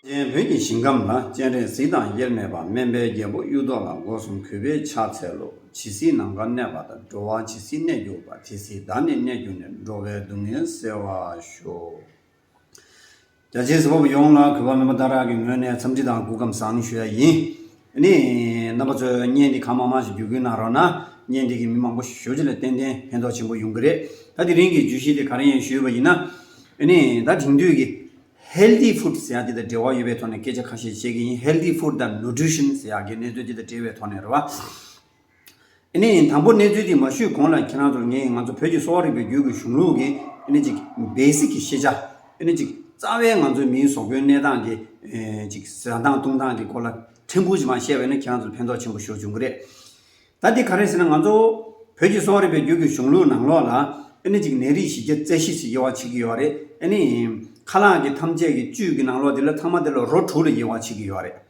ཅན་བོད་ཀྱི་ཞིང་ཁམས་ལ་སྤྱན་རས་གཟིགས་དང་དབྱེར་མེད་པ་སྨན་པའི་རྒྱལ་པོ་གཡུ་ཐོག་ལ་སྒོ་གསུམ་གུས་པས་ཕྱག་འཚལ་ལོ། ཇི་སྲིད་ནམ་མཁར་གནས་པ་དང་འགྲོ་བ་ཇི་སྲིད་གནས་གྱུར་པ་དེ་སྲིད་བདག་ནི་གནས་གྱུར་ནས་འགྲོ་བའི་སྡུག་བསྔལ་སེལ་བར་ཤོག། རྒྱ་ཆེའི་ཟི་བ་བོ་ཡོངས་ལ་གུས་པ་སྨོན་པ་དང་རག་གི་ངོས་ནས་འཚམས་འདྲི་དང་སྒུག་སྐམ་བཟང་ཞུ་ཡ་ཡིན། ནི། རྣམ་པ་ཚོས་བརྙན་འདི་གང་མང་མང་ཞིག་བརྒྱུད་སྐུལ་གནང་རོགས་ན། བརྙན་འདི་གིས་མི་མང་པོ་ཞིག་ཞོལ་རྒྱུ་ལས་ཏན་ཏན་ཕན་ཐོག་ཆེན་པོ་ཡོང་གི་རེད། ད་དེ་རིང་གི་བརྗོད་གཞི་དེ་ག་རེ་ཡིན་ཞུས་པ་ཡིན་ན། ནི། ད་དེང་དུས་ཀྱི། Healthy Food། ཟེར་ཡག་འདི་དང་འབྲེལ་བ་ཡོད་པའི་ཐོག་ནས་སྐད་ཆ་ཁ་ཤས་བཤད་ཀྱི་ཡིན Healthy Food དང Nutrition ཟེར་ཡག་གི་གནས་ཚུལ་འདི་དང་འབྲེལ་བའི་ཐོག་ནས་རེད་བ། ཨཱ་ནི། དང་པོ་གནས་ཚུལ་འདི་མ་ཞུས་གོང་ལ་ཁྱེད་རང་ཚོར་ངས་ང་ཚོ་བོད་ཀྱི་གསོ་བ་རིག་པའི་རྒྱུད་ཀྱི་གཞུང་ལུགས་ཀྱི་ཨཱ་ནི། Basic། གི་ཤེས་བྱ་ཨཱ་ནི། རྩ་བའི་ང་ཚོའི་མིའི་ཟོག་པོའི་གནས་སྟངས་ཀྱི་གཟའ་སྟངས་བཏུང་སྟངས་ཀྱི་སྐོར་ལ་ཕྲན་བུ་ཞིག་མ་བཤད་པ་ནི་ཁྱེད་རང་ཚོར་ཕན་ཐོགས་ཆེན་པོ་ཞུ་བྱུང་གི་རེད། ད་འདི་ག་རེད་ཟེར་ན་ང་ཚོ་བོད་ཀྱི་གསོ་བ་རིག་པའི་རྒྱུད་ཀྱི་གཞུང་ལུགས་ནང་ལོགས་ལ་ཨཱ་ནི། ནད་རིགས་བཞི་བརྒྱ་རྩ་བཞི་ཞེས་དབྱེ་བ་ཕྱེ་གི་ཡོད་རེད་ཨཱ་ནི། ཁ་ལག་གི་ཐམས་ཅད་ཀྱི་བཅུད་ཀྱི་ནང་ལོགས་འདི་ལ་ཐ་མ་དེ་ལ་རོ་དྲུག་ལ་དབྱེ་བ་ཕྱེ་གི་ཡོད་རེད།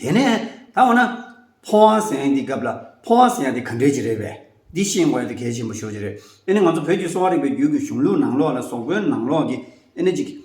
དེ་ནས་ད་འོ་ན། ཕོ་བ་ཟེར་ཡང་འདི་སྐབས་ལ་ཕོ་བ་ཟེར་ཡང་དེ་ག་འདྲས་ཀྱི་རེད་པས། འདི་ཤེས་དགོས་ཡ་དེ་གལ་ཆེན་པོ་ཤོར་གྱི་རེད། དེ་ནི་ང་ཚོ་བོད་ཀྱི་གསོ་བ་རིག་པའི་རྒྱུད་ཀྱི་གཞུང་ལུགས་ནང་ལོགས་ལ་ཟོག་པོའི་ནང་ལོགས་ཀྱི་ཨེ་ནི་ཅིག།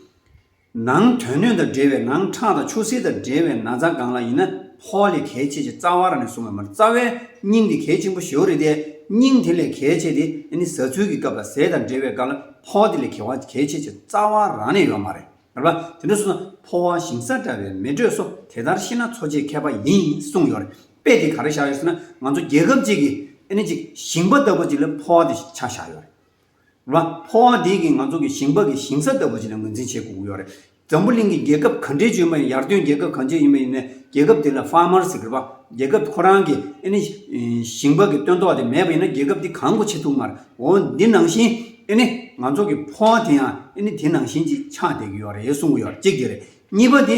ནང་དོན་སྣོད་དང་འབྲེལ་བའི་ནང་ཁྲག་དང་ཆུ་སེར་དང་འབྲེལ་བའི་ན་ཚ་གང་ལ་ཡིན་ན་ཕོ་བ་ལས་གལ་ཆེ་ཆེ་རྩ་བ་ར་ནས་བཟུང་བས་མར་རྩ་བའི་སྙིང་དེ་གལ་ཆེན་པོ་ཞེའུ་རེད་དེ་སྙིང་དེ་ལས་གལ་ཆེ་དེ་ཨེ་ནི་ཟ་ཚུལ་གྱི་སྐབས་ལ་ཟས་དང་འབྲེལ་བའི་སྐབས་ལ་ཕོ་བ་དེ་ལས་གལ་བ་གལ་ཆེ་ཆེ་རྩ་བ་ར་ནས་ཡོད་མ་རེད། ལ། དེ་འདྲ་སོང་ན་ཕོ་བ་ཞིང་ས་འདྲ་བའི་མི་འགྲོས་སོ་དེ་ལྟར་ཤེས་ན་འཚོ་བྱེད་མཁས་པ་ཡིན་གསུངས་ཡོད་རེད་དཔེ་དེ་ག་རེ་བཞག་ཡོད་ཟེར་ན་ང་ཚོ་རྒྱལ་ཁབ་ཅིག་གི་ཨ་ནི་ཅིག་ཞིང་པ་ལྟ་བུ་ཅིག་ལ་ཕོ་བ་དེ་ཆགས་བཞག་ཡོད་རེད། ལ། ཕོ་བ་དེ་གིས་ང་ཚོ་གི་ཞིང་པ་གི་ཞིང་ས་ལྟ་བུ་ཅིག་ལ་ངོས་འཛིན་བྱེད་དགོས་ཀྱི་ཡོད་རེད། འཛམ་བུ་གླིང་གི་རྒྱལ་ཁབ་ག་འདྲའི་བཅོས་མ་ཡིན་ཡར་ཐོན་རྒྱལ་ཁབ་གང་ཅི་ཡིན་པ་ཡིན་ན་རྒྱལ་ཁབ་དེ་ལ Farmers ཟེར་བ་རྒྱལ་ཁབ་ཁོ་རང་གི་ཨ་ནི་ཞིང་པ་གི་བསྟོད་ཐོག་དེ་མེད་པ་ཡིན་ན་རྒྱལ་ཁབ་དེ་གང་གོ་ཆེ་ཐུག་མར་འོ་འདི་ནང་བཞིན་ཨེ་ནི་ང་ཚོ་གི་ཕོ་བ་དེ་ཡང་ཨེ་ནི་དེ་ནང་བཞིན་ཅིག་ཆགས་བསྡད་ཀྱི་ཡོད་རེད་གསུང་གི་ཡོད་གཅིག་དེ་རེད་གཉིས་པ་དེ་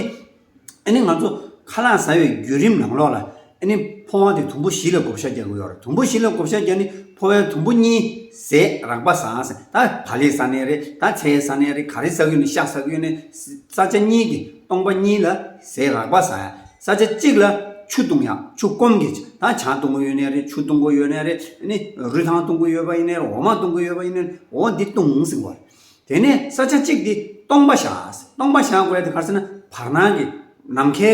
ཨེ་ནི་ང་ཚོ་ཁ་ལག་ཟ་བའི་བརྒྱུད་རིམ་ནང་ལོགས་ལ་ཨེ་ནི་ཕོ་བ་དེ་དུམ་བུ་བཞི་ལ་བགོ་བཤའ་རྒྱག་གི་ཡོད་རེད་དུམ་བུ་བཞི་ལ་བགོ་བཤའ་རྒྱག་ནི་ཕོ་བའི་དུམ་བུ་གཉིས་ཟས་རག་པ་ཟ་ཟེ་ད་བ་ལེ་ཟ་ནས་རེད་ད་ཚལ་ཟ་ནས་རེད་ག་རེ་ཟ་གི་ཡོད་ནི་ཤ་ཟ་གི་ཡོད་ནི་ས་ཆ་གཉིས་ཀྱི་སྟོང་པ་གཉིས་ལ་ཟས་རག་པ་ཟ། ས་ཆ་གཅིག་ལ་ཆུ་བཏུང་ཡང་ཆུ་སྐོམ་གྱི་ད་ཆ་བཏུང་གི་ཡོད་ནའི་རེད་ཆུ་བཏུང་གི་ཡོད་ནའི་རེད་ནི་རུས་ཐང་བཏུང་གི་ཡོད་པ་ཡིན་ནའི་རེད་འོ་མ་བཏུང་གི་ཡོད་པ་ཡིན་ནའི་རེད་འོ་འདི་བཏུང་ཟིག་བར། དེ་ནས་ས་ཆ་གཅིག་འདི་སྟོང་པ་བཞག་སྟོང་པ་བཞག་བས་དེ་གར་ཟེར་ན་བར་སྣང་གི་ནམ་མཁའི་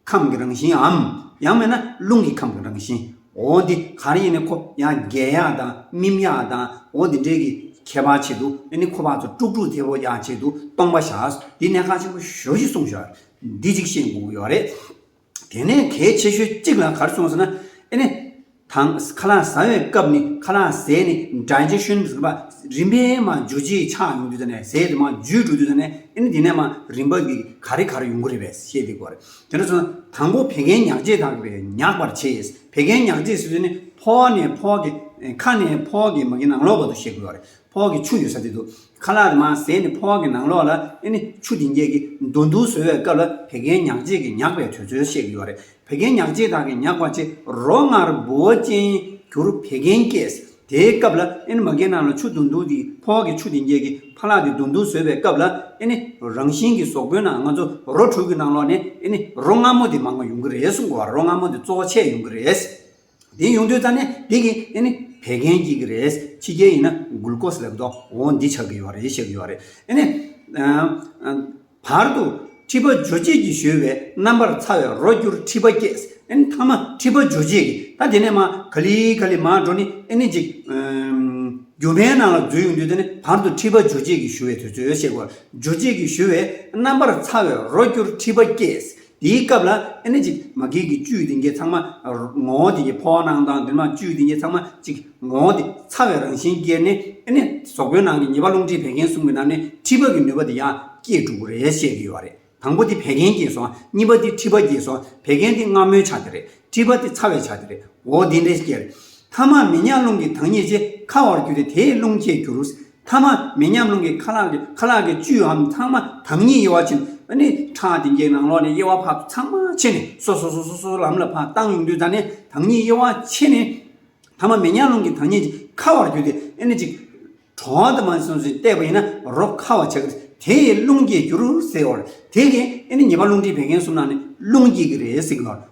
ཁམས་ཀྱི་རང་བཞིན་འམ་ཡང་མེད་ན་རླུང་གི་ཁམས་ཀྱི་རང་བཞིན་འོ་འདི་གར་ཡིན་ནའི་ཁོ་ཡང་རྒྱལ་གཡག་དང་སྨིན་གཡག་དང་འོ་འདི་འདྲས་ཀྱི་ཁྱད་པར་ཆེད་དུ་ནི་ཁོ་པ་ཚོ་དཀྲུག་དཀྲུག་དེ་བོ་ཡག་ཆེད་དུ་སྟོང་པ་བཞག་འདི་ནས་ཁ་ཆེན་པོ་ཞོ་ཞིག་གསུངས་ཞོར་འདི་ཅིག་བཤད་དགོས་ཀྱི་ཡོད་རེད། དེ་ནས་གལ་ཆེ་ཤོས་གཅིག་ལ་གར་སོང་ཟེར་ན། ཨེ་ནས། དང། ཁ་ལག་ཟ་བའི་སྐབས་ནི་ཁ་ལག་ཟས་ནི་སྒྲ་འཇི་བཞོན་ཟེར་པ། རིམ་པས་མ་འཇུ་རྗེས་ཆགས་ཡོང་དུས་ཟེར་ནས་ཟས་དེ་མ་འཇུས་འགྲོ་དུས་ཟེར་ནས་ཨེ་ནས་དེ་ནས་མ་རིམ་པ་གི་ག་རེ་གར་ཡོང་གི་རེད་པས་བཤད་དེ་དགོས་རེད། དེ་འདྲ་སོང་ན་དང་པོ་བད་ཀན་མྱགས་རྗེས་དག་པས་མྱགས་པར་བྱེད། བད་ཀན་མྱགས་རྗེས་ཟེར་དུས་ནི་ཕོ་བ་ནས་ཕོ་བ་གི། ཁ་ནས་ཕོ་བ་གི་མ་གི་ནང་ལོགས་བར་དུ་བཤད་དགོས་ཡོད་རེད། ཕོག་གི་ཆུ་ཡོད་ས་དེ་དུ་ཁ་ལག་དེ་མ་ཟས་ནས་ཕོག་གི་ནང་ལོགས་ལ་ཨེ་ནི་ཆུ་དེ་འགྱེལ་གི་འདུག་འདུག་ཟོས་བའི་སྐབས་ལ་བད་ཀན་ཉག་གཅིག་གིས་ཉག་པའི་དུས་ཚོད་བཤད་ཀྱི་ཡོད་རེད་བད་ཀན་ཉག་གཅིག་དག་གིས་ཉག་པ་ཕྱི་རོ་སྔར་འབུ་བ་ཅན་གྱུར་བད་ཀན་སྐྱེས་དེའི་སྐབས་ལ་ཨེ་ནི་མ་གའི་ནང་ལ་ཆུ་འདུག་འདུག་དེའི་ཕོག་གི་ཆུ་དེ་འགྱེལ་གི་ཕ་ལག་དེ་འདུག་འདུག་ཟོས་བའི་སྐབས་ལ་ཨེ་ནི་རང་བཞིན་གྱི་ཟོག་པོའི་ནང་ང་ཚོ་རོ་དྲུག་གི་ནང་ལོགས་ནས་ཨེ་ནི་རོ་ང་མོ་དེ་མང་བ་ཡོང་གི་རེད་སུ་འགོ་བ་རོ་ང་མོ་དེ་གཙོ་བོ་ཆེ་ཡོང་གི་རེད། འདི་ཡོང་དུས་ཙང་ནི་འདི་གི་ཨེ་ནི་བད་ཀན་སྐྱེ་གི་རེད་ཕྱི་རྒྱལ་ཡིན་ན་གུལ་ཀོས་ལབ་དོ་འོ་འདི་ཆགས་གི་ཡོད་རེད་ཤེས་གི་ཡོད་རེད་ཨེ་ནི། བར་དུ་མཁྲིས་པ་འཇོ་སྤྱད་ཀྱི་ཞོལ་བའི་རྣམ་པར་ཚ་བའི་རོ་སྐྱུར་མཁྲིས་པ་སྐྱེས་ཨེ་ནི་ཐ་མ་མཁྲིས་པ་འཇོ་སྤྱད་ཀྱི་ད་དེ་ནས་མ་ག་ལི་ག་ལི་མ་འགྲོ་ནི་ཨེ་ནི་ཅིག། རྒྱུ་བའི་ནང་ལ་འཛུལ་ཡོང་དུས་ད་ནི་བར་དུ་མཁྲིས་པ་འཇོ་སྤྱད་ཀྱི་ཞུ་བའི་དུས་ཚོད་ཤེས་དགོས་རེད་འཇོ་སྤྱད་ཀྱི་ཞུ་བའི་རྣམ་པར་ཚ་བའི་རོ་སྐྱུར་མཁྲིས་པ་སྐྱེས་དེའི་སྐབས་ལ་ཨེ་ནི་ཅིག་མ་གིག་གི་བཅུད་དེ་འགས་ཚང་མ་ངོ་བོ་དེ་ཀྱི་ཕོ་བ་ནང་དང་འདུན་མ་བཅུད་དེ་འགས་ཚང་མ་གཅིག་ངོ་བོ་དེ་ཚ་བའི་རང་བཞིན་སྐྱེས་ནས་ཨེ་ནི་ཟོག་པོའི་ནང་གི་ཉེས་པ་རླུང་མཁྲིས་བད་ཀན་གསུམ་གྱི་ནང་ནས་མཁྲིས་པ་གི་ནུས་པ་དེ་ཡང་སྐྱེས་འགྲོ་གི་རེད་བཤད་ཀྱི་ཡོད་པ་རེད་དང་པོ་དེ་བད་ཀན་སྐྱེས་སོང་གཉིས་པ་དེ་མཁྲིས་པ་སྐྱེས་སོང་བད་ཀན་དེ་སྔ་མོའི་ཆ་དེ་རེད་མཁྲིས་པ་དེ་ཚ་བའི་ཆ་དེ་རེད་འོ་དེ་འདྲའི་སྐྱེས། མཐའ་མ་མི་ཉག་རླུང་གི་དྭངས་སྙིགས་ཆེ་ཁ་བར་གྱུར་ཏེ་དེས་རླུང་སྐྱེས་གྱུར། ཐ་མ་མི་མཉམ་རླུང་གི་ཁ་ལག་གི་ཁ་ལག་གི་བཅུའམ་ཚང་མ་དྭངས་སྙིགས་དབྱེ་བ་ཕྱིན་པ་ནི་ཁྲག་དེ་འགྱེད་ནང་ལོགས་ནས་དབྱེ་བ་འཕགས་པ་ཚང་མ་ཕྱེ་ནས་སོ་སོ་སོ་སོ་སོ་ལམ་ལ་འཕགས་བཏང་ཡུངས་འདུས་དང་ནི་དྭངས་སྙིགས་དབྱེ་བ་ཕྱེ་ནས། ཐ་མ་མི་མཉམ་རླུང་གི་དྭངས་སྙིགས་ཀྱི་ཁ་བར་གྱུར་ཏེ་ནི་ཅིག། གྲོགས་དེ་མ་ཟིན་ཟིན་བལྟས་པ་ཡིན་ན་རོ་ཁ་བ་བྱེད་དེ་ཡི་རླུང་སྐྱེས་འགྱུར་ཟེར་བར་དེ་གིས་ནི་ཉེས་པ་རླུང་མཁྲིས་བད་ཀན་གསུམ་ན་ནི་རླུང་སྐྱེས་ཀྱི་རེད་ཟེར་གྱི་ཡོད།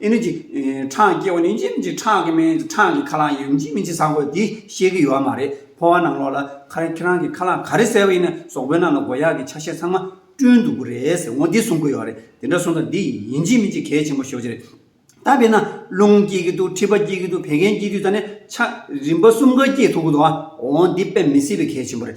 ཨེ་ནུ་གྱི་ཁྲག་སྐྱེ་བ་ནི་འཇིམ་གྱི་ཁྲག་གི་སྨན་ཁྲག་གི་ཁ་ལག་ཡིན་འཇིམ་མི་འཆི་ཟ་གོ་འདི་ཤེས་ཀྱི་ཡོད་མ་རེད་ཕོ་བ་ནང་ལོག་ལ་ཁར་ཁྱེད་རང་གི་ཁ་ལག་ག་རེ་གསལ་བ་ཡིན་ན་ཟོག་པོའི་ནང་ལ་མགོ་ཡག་གི་ཆ་ཤས་ཚང་མ་བསྐྲུན་འདུག་གོ་རེད་ཟེར་ངོ་འདི་གསུང་གི་ཡོད་རེད་དེ་འདྲ་གསུང་ད་འདི་ཡིན་འཇིམ་མི་འཆི་གལ་ཆེན་པོ་ཤོས་ཀྱི་རེད་ད་དཔེར་ན་རླུང་སྐྱེ་གི་འདུག་མཁྲིས་པ་སྐྱེ་གི་འདུག་བད་ཀན་སྐྱེ་དུས་ད་ནས་ཆ་རིམ་པ་གསུམ་ཀ་སྐྱེ་ཐུབ་གི་འདུག་ཨ་འོ་འདི་དཔེ་མི་སྲིད་པའི་གལ་ཆེན་པོ་རེད།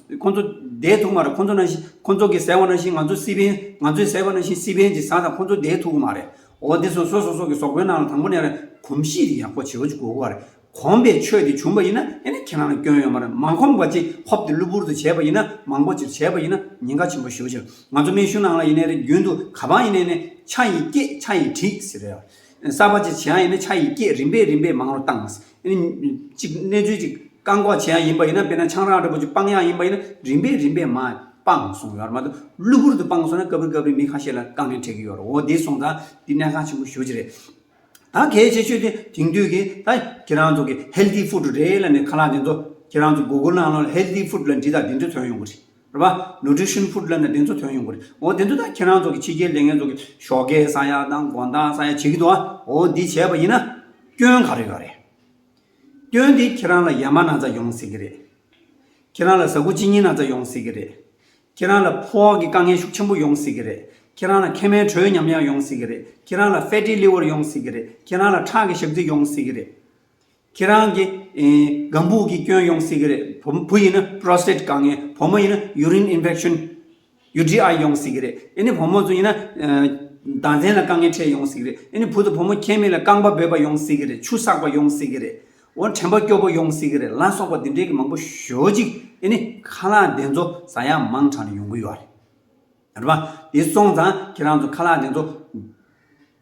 ཁོང་ཚོ་དེའི་ཐུག་མ་རེད་ཁོང་ཚོ་ནང་བཞིན་ཁོང་ཚོ་གིས་ཟེར་བ་ནང་བཞིན་ང་ཚོ་སི་པེན་ང་ཚོས་ཟེར་བ་ནང་བཞིན་སི་པེན་གྱི་ཟངས་དང་ཁོང་ཚོ་དེའི་ཐུག་མ་རེད་འོ་འདི་སོ་སོ་སོ་སོ་གི་ཟོག་པོའི་ནང་ལ་དང་པོ་ནས་གོམས་གཤིས་དེ་ཡག་པོ་བྱེད་དགོས་པ་རེད་གོམས་པའི་ཆོས་དེ་བྱུང་པ་ཡིན་ན་ཡིན་ན་ཁྱེད་རང་ལ་སྐྱོན་ཡོད་མ་རེད་མ་གོམས་པ་ཅིག་ཧོབ་ཏུ་གློ་བུར་དུ་བྱས་པ་ཡིན་ན་མང་པོ་ཅིག་བྱས་པ་ཡིན་ན་ཉེན་ཁ་ཆེན་པོ་ཞུ་ཞིང་ང་ཚོ་སྨན་ཤུལ་ནང་ལ་ཡིན་ནས་རེད་རྒྱུན་དུ་ག་པང་ཡིན་ནས་ནས་ཆ་ཡིས་སྐྱེད་ཆ་ཡིས་བྲིད་ཟེར་རེད་གསར་པ་ཅིག་བྱེད་ཡང་ཡིན་ན་ཆ་ཡིས་སྐྱེད་རིམ་པས་རིམ་པས་མང་རུ་བཏང་ཨེ། གཅིག་གནས་ཚུལ་གཅིག་བཀག་འགོག་བྱེད་ཡག་ཡིན་པ་ཡིན་ན་དཔེར་ན་ཆང་རག་འདྲ་པོ་གཅིག་སྤང་ཡག་ཡིན་པ་ཡིན་ན་རིམ་པས་རིམ་པས་མ་སྤངས་སོང་ཡོད་རེད་མ་གཏོགས་གློ་བུར་དུ་སྤངས་སོང་ན་སྐབས་རེ་སྐབས་རེ་མི་ཁ་ཤས་ལ་རྐང་འདྲེན་འཕྲད་ཀྱི་ཡོད་རེད་འོ་དེ་སོང་ཙང་དེ་གནད་འགག་ཆེན་པོ་ཤོས་ཀྱི་རེད། ད་གལ་ཆེ་ཤོས་དེ་དེང་དུས་ཀྱི་ད་ཁྱེད་རང་ཚོ་གི healthy food རེད་ལ་ནི་ཁ་ལག་དེ་ཚོ་ཁྱེད་རང་ཚོ Google ནང་ལ healthy food ལ་འབྲི་དང་དེ་འདྲ་ཐོན་ཡོང་གི་རེད། རེད་པ། Nutrition Food Lab ནས་དེ་ཚོ་ཐོན་ཡོང་གི་རེད། འོ་དེ་ཚོ་ད་ཁྱེད་རང་ཚོ་གི་ཕྱི་རྒྱལ་ལས་ངན་ཚོ་གི་ཤོག་ཁའི་ས་ཡ་དང་དགོན་བདག་ས་ཡ་བྱེད་ཀྱི་འདུག་ཨ། འོ་འདི་བྱས་པ་ཡིན་ན། སྐྱོན་ག་རེ་ཡོད་རེད། སྐྱོན་དེ་ཁྱེད་རང་ལ་ཡ་མ་ན་ཚ་ཡོང་སྲིད་ཀྱི་རེད། ཁྱེད་རང་ལ་གཟའ་འཁོར་ཅི་ཉིན་ན་ཚ་ཡོང་སྲིད་ཀྱི་རེད། ཁྱེད་རང་ལ་ཕོ་ཨག་གི་དཀའ་ངལ་ཤུགས་ཆེན་པོ་ཡོང་སྲིད་ཀྱི་རེད། ཁྱེད་རང་ལ་མཁལ་མའི་དྲོད་ཉམས་ཡག་ཡོང་སྲིད་ཀྱི་རེད། ཁྱེད་རང་ལ Fatty Liver ཡོང་སྲིད་ཀྱི་རེད། ཁྱེད་རང་ལ་ཁྲག་གི་ཞག་རྩི་ཡོང་སྲིད་ཀྱི་རེད། ཁྱེད་རང་གི་སྒམ་སྦུག་གི་སྐྱོན་ཡོང་སྲིད་ཀྱི་རེད། བུ་ཡིན་ན Prostate དཀའ་ངལ། བུ་མོ་ཡིན་ན Urine Infection། UTI། ཡོང་སྲིད་ཀྱི་རེད། ཨེ་ནི་བུ་མོ་ཚོ་ཡིན་ན། ཟླ་མཚན་ལ་དཀའ་ངལ་འཕྲད་ཡོང་སྲིད་ཀྱི་རེད། ཨེ་ནི་བུ་དང་བུ་མོ་ཁྱད་མེད་ལ་རྐང་པ་འབོད་པ་ཡོང་སྲིད་ཀྱི་རེད། ཆུ་བསགས་པ་ཡོང་སྲིད་ཀྱི་རེད། འོ་དྲན་པ་སྐྱོ་པོ་ཡོང་སྲིད་ཀྱི་རེད་ལ་སོགས་པ་འདི་འདྲའི་གི་མང་པོ་ཞོ་ཅིག་ཨེ་ནི་ཁ་ལག་བདེ་འཚོ་ཟ་ཡག་མང་དྲག་ནས་ཡོང་གི་ཡོད་རེད། རེད་པ། དེ་སོང་ཙང་ཁྱེད་རང་ཚོ་ཁ་ལག་བདེ་འཚོ།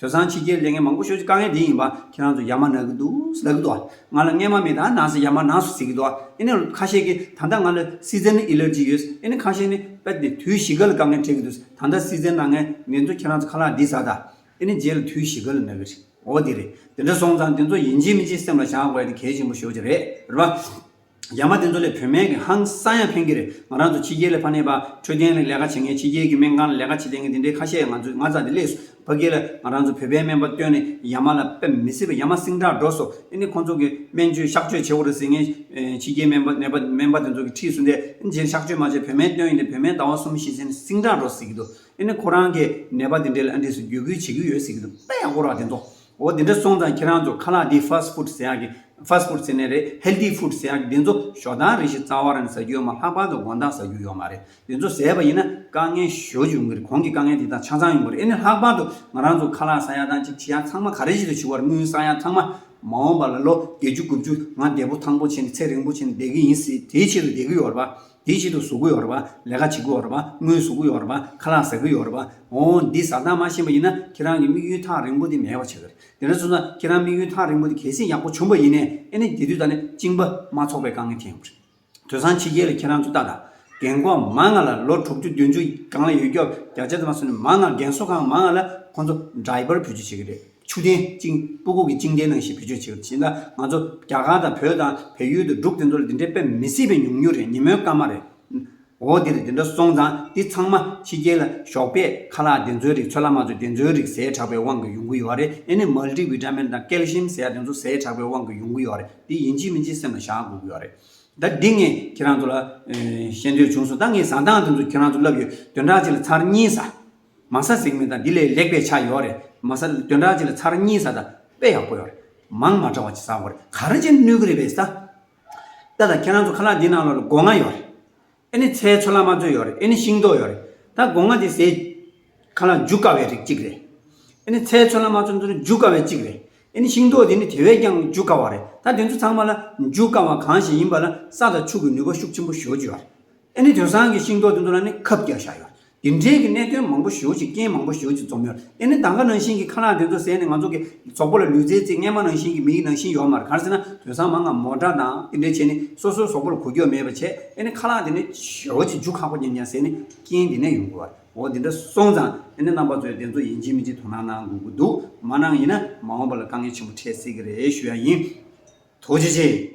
དོལ་ཚང་ཕྱི་རྒྱལ་ལས་ངན་མང་པོ་ཤོར་རྒྱུ་དཀའ་ངལ་དེ་ཡིན་པ་ཁྱེད་རང་ཚོ་ཡར་མ་ན་གི་འདུག་ཟླ་གི་འདུག་ང་ལ་རྔན་མ་མེད་ད་ནང་སེ་ཡར་མ་ན་སུ་ཟེར་གི་འདུག་ཨེ་ནི་ཁ་ཤས་ཀི་ད་ལྟ་ང་ལ་སིཛན་ཨེ་ལེར་ཇི་ཡོད་ཨེ་ནི་ཁ་ཤས་ནི་པད་དེ་དུས་བཞི་ག་ལ་དཀའ་ངལ་འཕྲད་གི་འདུག་ད་ལྟ་སིཛན་ན་ངན་ངན་འདུག་ཁྱེད་རང་ཚོ་ཁ་ལག་འདི་ཟ་ད་ཨེ་ནི་རྗེས་ལ་དུས་བཞི་ག་ལ་ན་གི་རེད་འོ་དེ་རེད་དེ་འདྲ་སོང་ཙང་དེ་ཚོ་ཡིན་གྱི་མིན་གྱི་སེམས་ལ་བཞག་དགོས་ཡ་དེ་གལ་ཆེན་པོ་ཤོར་གྱི་རེད་རེད་པ། རྒྱ་མ་དེ་ཚོ་ལས་བོད་སྨན་གྱི་ཧང་སང་ཡང་ཕན་གྱི་རེད་ང་རང་ཚོ་ཕྱི་རྒྱལ་ལས་ཕ་ནས་བ་འཕྲོད་མཁན་ལས་ལས་ཀ་བྱེད་མཁན་ཕྱི་རྒྱལ་གྱི་སྨན་ཁང་ལས་ལས་ཀ་བྱེད་བསྡད་མཁན་དེ་འདྲའི་ཁ་ཤས་ཡང་ང་ཚོས་ང་ཚ་དེ་ལས་སུ་བ་སྐྱེ་ལ་ང་རང་ཚོ་བོད་པའི་སྨན་པ་བཏོན་ནས་ཡ་མ་ལ་ཕེབས་མི་སྲིད་པ་ཡ་མ་སིང་དྲག་འགྲོ་སོ་ཨེ་ནི་ཁོང་ཚོ་གི་སྨན་བཅོས་གཤག་བཅོས་བྱེད་དགོ་རེད་ཟེར་ངས་ཕྱི་རྒྱལ་སྨན་པ་ནད་པ་སྨན་པ་དེ་ཚོ་གི་འཁྲིས་སུ་འདས་ཨེ་ནི་གཤག་བཅོས་མ་བྱས་བོད་སྨན་བཏོན་ཡིན་ཏེ་བོད་སྨན་ཟླ་བ་གསུམ་བཞི་ཟིན་ནས་སིང་དྲག་འགྲོ་ཟེར་གྱི་འདུག་ཨེ་ནི་ཁོ་རང་གི་ནད་པ་དེ་འདྲའི་ལ་འདྲིས་སུ་བརྒྱུད་སྐུལ་བྱེད་ཀྱི་ཡོད་ཟེར་གྱི་འདུག་དཔེ་ཡག་པོ་རག་དེ་འདོག་འོ་དེ་འདྲ་སོང་ཙང་ཁྱེད་རང་ཚོ་ཁ་ལག་འདི fast food ཟེར་ཡག་གི fast food ཟེར་ནི་རེད healthy food ཟེར་ཡག་གི་འདི་ཚོ་ཞོ་སྡང་རེད་ཞེས་རྩ་བ་རང་ཟ་རྒྱུ་ཡོད་མ་ལྷག་པར་དུ་དགོང་དག་ཟ་རྒྱུ་ཡོད་མ་རེད་འདི་ཚོ་ཟས་པ་ཡིན་ན་དཀའ་ངལ་ཞོ་བྱུང་གི་རེད་གོང་གི་དཀའ་ངལ་དེ་དག་ཆ་ཚང་ཡོང་གི་རེད་ཨེ་ནི་ལྷག་པར་དུ་ང་རང་ཚོ་ཁ་ལག་ཟ་ཡག་དང་ཅིག་བྱེད་ཡག་ཚང་མ་ག་རེ་བྱེད་དུ་བྱུང་བར་དངུལ་བསགས་ཡག་ཚང་མ་མ་འོངས་པ་ལ་ལོ་བརྒྱད་ཅུ་དགུ་བཅུ་ང་བདེ་པོ་ཐང་པོ་བྱས་ནས་ཚེ་རིང་པོ་བྱས་ནས་བསྡད་གི་ཡིན་སྲིད་དེའི་ཆེད་དུ་བསྡད་གི་ཡོད་རེད་པ། དེའི་ཆེད་དུ་གཟུགས་སྐུ་ཡོད་རེད་པ། ལས་ཀ་བྱེད་ཀྱི་ཡོད་རེད་པ། དངུལ་གཟུགས་ཀྱི་ཡོད་རེད་པ། ཁ་ལག་ཟ་གི་ཡོད་རེད་པ། འོ། འདི་བཟའ་སྟངས་མ་ཤེས་པ་ཡིན་ན་ཁྱེད་རང་གི་དམིགས་ཡུལ་ཐག་རིང་པོ་དེ་མེད་པ་བྱེད་གི་རེད། དེ་འདྲ་བཟོས་ན་ཁྱེད་རང་དམིགས་ཡུལ་ཐག་རིང་པོ་དེ་གལ་སྲིད་ཡག་པོ་བྱུང་པ་ཡིན་ནས་ཨེ་ནི་དེ་དུས་ད་ནི་བཅིངས་པ་མ་ཚོགས་པའི་དཀའ་ངལ་འཐེན་ཡོང་གི་རེད། དོལ་ཚང་ཕྱི་རྒྱལ་ལ་ཁྱེད་རང་ཚོ་ལྟ་དང། རྒན་འཁོག་མ་ལྔ་ལ་ལོ་དྲུག་ཅུ་བདུན་ཅུ་སྒང་ལ་ཡོད་སྐྱོབ་བརྒྱ་ཆ་ཙམ་མ་སོང་ནས་མ་ལྔ་རྒན་གསོ་ཁང་མ་ལྔ་ལ་ཁོང་ཚོ Driver ཕུལ་རྒྱུ་བྱེད་ཀྱི་རེད། ཆུ་ཐན་ཅིང་པུ་གུ་གི་ཅིང་ཏའི་ནང་བཞིན་བེད་སྤྱོད་བྱེད་དགོས་ཞེས་ན་ང་ཚོ་རྒྱ་གར་དང་བོད་དང་བལ་ཡུལ་དུ་འབྲུག་དེ་ཚོ་ལ་འདི་འདྲའི་དཔེ་མི་སྲིད་པའི་ཉུང་ཉུང་རེད་ཉིན་མོའི་སྐར་མ་རེད། འོ་འདིར་འདི་འདྲ་སོང་ཙང་འདི་ཚང་མ་ཕྱི་རྒྱལ་ལ་ཞོགས་པས་ཁ་ལག་དེ་ཚོའི་རིགས་ཚོད་ལ་མ་ཚོད་དེ་ཚོའི་རིགས་ཟས་དྲགས་པའི་དབང་གིས་ཡོང་གི་ཡོད་རེད་ཨེ་ནི་མལ་ཏི་ཝིཏ་མིན་དང་ཀལ་ཤིའམ་ཟས་དེ་ཚོ་ཟས་དྲགས་པའི་དབང་གིས་ཡོང་གི་ཡོད་རེད་འདི་ཡིན་གཅིག་མིན་གཅིག་སེམས་ལ་བཞག་དགོས་ཀྱི་ཡོད་རེད། ད་འདི་ངས་ཁྱེད་རང་ཚོ་ལ་བཤད་འདོད་བྱུང་སོང་ད་ངས་བཟའ་ཐང་དེ་ཚོ་ཁྱེད་རང་ཚོ་ལབ་ཡོད་དོན་དྲག་ཅིག་ལ་ཚར་གཉིས་ཟ་མ་ས་གཟིགས་མི་དང་འདི་ལས་ལེགས་པའི་ཆ་ཡོད་རེད་མ་ས་དོན་དག་ཅིག་ལ་ཚར་གཉིས་ས་དང་དཔེ་ཡག་པོ་ཡོད་རེད་མང་མ་དྲ་བ་ཅིག་ས་གོ་རེད་ག་རེ་བྱེད་ནུས་གི་རེད་བས་ས་ད་ད་ཁྱེད་རང་ཚོ་ཁ་ལག་འདི་ནང་ལོག་ལ་སྒོ་ང་ཡོད་རེད་ཨེ་ནི་ཚའི་ཆོ་ལ་མ་ཚོད་ཡོད་རེད་ཨེ་ནི་ཤིང་ཏོག་ཡོད་རེད་ད་སྒོ་ང་དེ་ཟས་ཁ་ལག་འཇུ་དཀའ་བའི་རིགས་ཅིག་རེད་ཨེ་ནི་ཚའི་ཆོ་ལ་མ་ཚོད་འདི་ནི་འཇུ་དཀའ་བའི་ཅིག་རེད་ཨེ་ནི་ཤིང་ཏོག་དེ་ནི་དེ་བས་ཀྱང་འཇུ་དཀའ་བ་རེད་ད་དེ་ཚོ་ཚང་མ་ལ་འཇུ་དཀའ་བ་གང་ཞིག་ཡིན་པ་ལ་ས་དང་ཕྱུགས་ཀྱི་ནུས་པ་ཤུགས་ཆེན་པོ་ཞོག་ཀྱི་ཡོད་རེད་ཨེ་ནི་དོན་སང་གི་ཤིང་ཏོག་དེ་ཚོ་ལ་ནི་ཁབ་རྒྱག་བཞག་ཡོད་རེད། དེ་འབྲེལ་གྱི་གནད་དོན་མང་པོ་ཞོལ་གྱི་རྐྱེན་མང་པོ་ཞོལ་གྱི་འཛོམས་ཡོད་དེ་ནི་ད་ག་ནང་བཞིན་གྱི་ཁ་ལག་དེ་ཚོ་ཟད་ནས་ང་ཚོ་གི་ཚོགས་པ་ལ་ལུས་རྩལ་རྩིག་ངན་མ་ནང་བཞིན་གྱི་མིག་ནང་བཞིན་ཡོག་མར་གར་ཟེར་ན་དོས་སང་མ་ང་མོ་འདྲ་དང་དེ་འདྲའི་བྱས་ནི་སོ་སོའི་ཟོག་པོ་ལ་གོ་རྒྱོ་མེད་པ་བྱས་དེ་ནི་ཁ་ལག་དེ་ནི་ཞོལ་གྱི་རྒྱུ་ཁག་པོ་ཉམས་ཀྱང་ཟད་ནི་རྐྱེན་དེ་ནས་ཡོང་དགོས་བར་འོ་དེ་འདྲ་སོང་ཙང་དེ་ནི་རྣམ་པ་ཚོས་དེ་ཚོ་ཡིན་གཅིག་མིན་གཅིག་དོ་སྣང་གནང་དགོས་ཀྱི་འདུག་མ་གནང་ཡིན་ན་མ་འོངས་པ་ལ་དཀའ་ངལ་ཆེན་པོ་འཕྲད་སྲིད་ཀྱི་རེད་ཞུ་ཡག་ཡིན། ཐུགས་རྗེ་ཆེ།